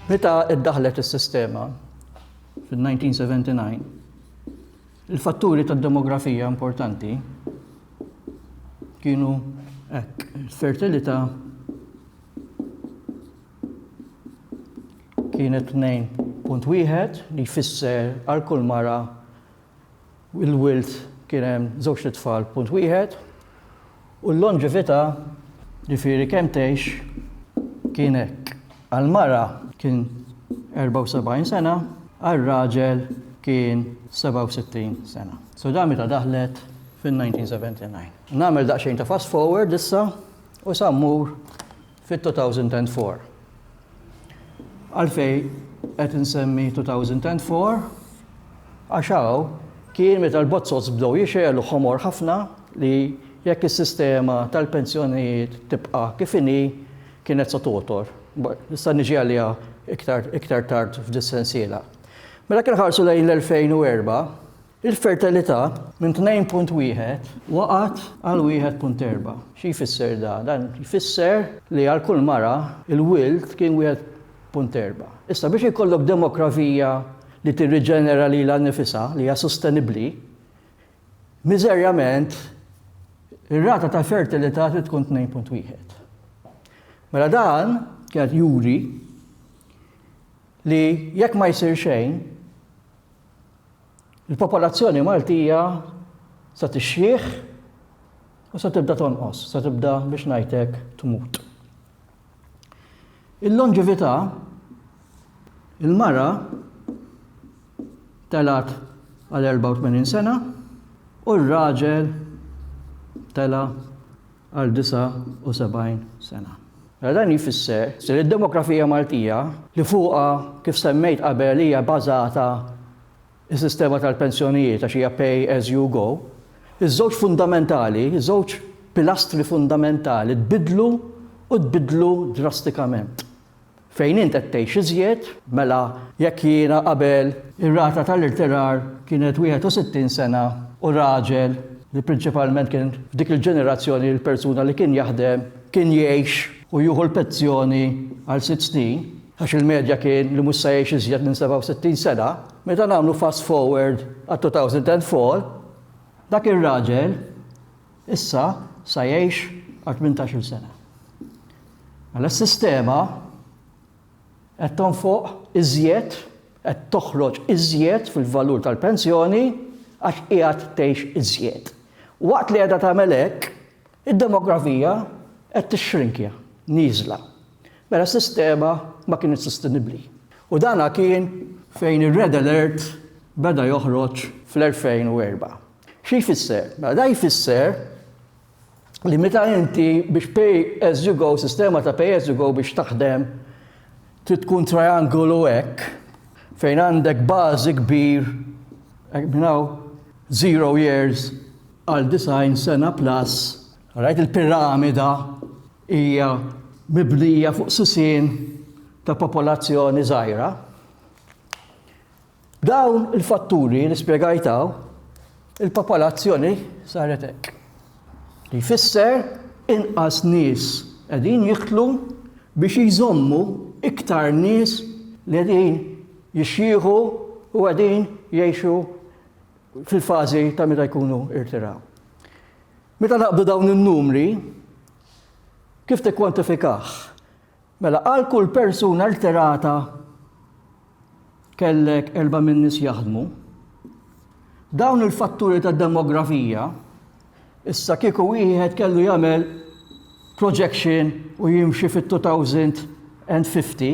Meta iddaħlet is-sistema fil-1979, il-fatturi tad-demografija importanti kienu hekk, il-fertilità kien 2.1 li jfisser għal kull mara il-wild kien hemm żewġt itfal punt wieħed u l-lonġività ġifieri kemm tgħix kien hekk. Għal mara kien 74 sena, għal raġel kien 67 sena. So dan meta daħlet fin-1979. Nagħmel daqsxejn ta' fast forward issa u sa mmur fit-2004. Għalfejn qed insemmi 2004? Għax hawn kien meta l-bozzots bdew jixgħelu ħomor ħafna li jekk is-sistema tal-pensjonijiet tibqa' kif inhi kienet se togħtor. Nista' niġi għaliha iktar tard f'dis-sensiela. Mela jekk inħarsu lejn l-2004, Il-fertilità minn 2.1 waqgħet għal 1.4. Xi jfisser dan? Dan jfisser li għal kull mara l-wild kien 1.4. Issa biex ikollok demografija li tirriġenera lilha nnifisha li hija sostenibbli, miżerjament ir-rata ta' fertilità trid tkun 2.1. Mela dan kien juri li jekk ma jsir xejn, Il-popolazzjoni Maltija se tixjieħ u se tibda tonqos, se tibda biex ngħidlek tmut. Il-lonġività il-mara telat għal 84 sena u r-raġel tela għal 79 sena. Mela dan jfisser li d-demografija Maltija, li fuqha kif semmejt qabel hija bażata s-sistema tal-pensjonijiet għax hija pay as you go, iż-żewġ fundamentali, żewġ pilastri fundamentali tbiddlu u tbiddlu drastikament. Fejn int qed tgħix iżjed, mela jekk jiena qabel ir-rata tal-irtirar kienet 61 sena u raġel li prinċipalment kien f'dik il-ġenerazzjoni l-persuna li kien jaħdem kien jgħix u jieħu l-penzjoni għal sitt snin, għax il-medja kien li mhux se jgħix iżjed minn 67 sena, meta nagħmlu fast forward għat-2004, dak ir-raġel Issa sa jgħix għal tmintax-il sena. Mela s-sistema qed tonfoq iżjed, qed toħroġ iżjed fil-valur tal-pensjoni għax qiegħed tgħix iżjed. Waqt li qiegħda tagħmel hekk, id-demografija qed tixxrinkja, nieżla. Mela s-sistema ma kinitx sostenibbli. U dan kien fejn ir-Red Alert beda joħroġ fl-2004. Xi jfisser? Mela dan jfisser li meta inti biex pay as you go, sistema ta' pay as you go biex taħdem trid tkun triangolu hekk fejn għandek bażi kbir hekk minn hawn zero years għal 90 sena plus, rajt il-piramida hija mibnija fuq sisien ta' popolazzjoni żgħira. Dawn il-fatturi li spjegajt hawn, il-popolazzjoni saret hekk. Li jfisser inqas nies qegħdin jiktlu biex jżommu iktar nies li qegħdin jixjieħu u qegħdin jgħixu fil-fażi ta' meta jkunu irtiraw. Meta naqbdu dawn in-numri, kif tikkwantifikah? Mela għal kull persuna rtirata kellek erba' minn nies jaħdmu. Dawn il-fatturi ta' demografija issa kieku wieħed kellu jagħmel projection u jimxi fit-2050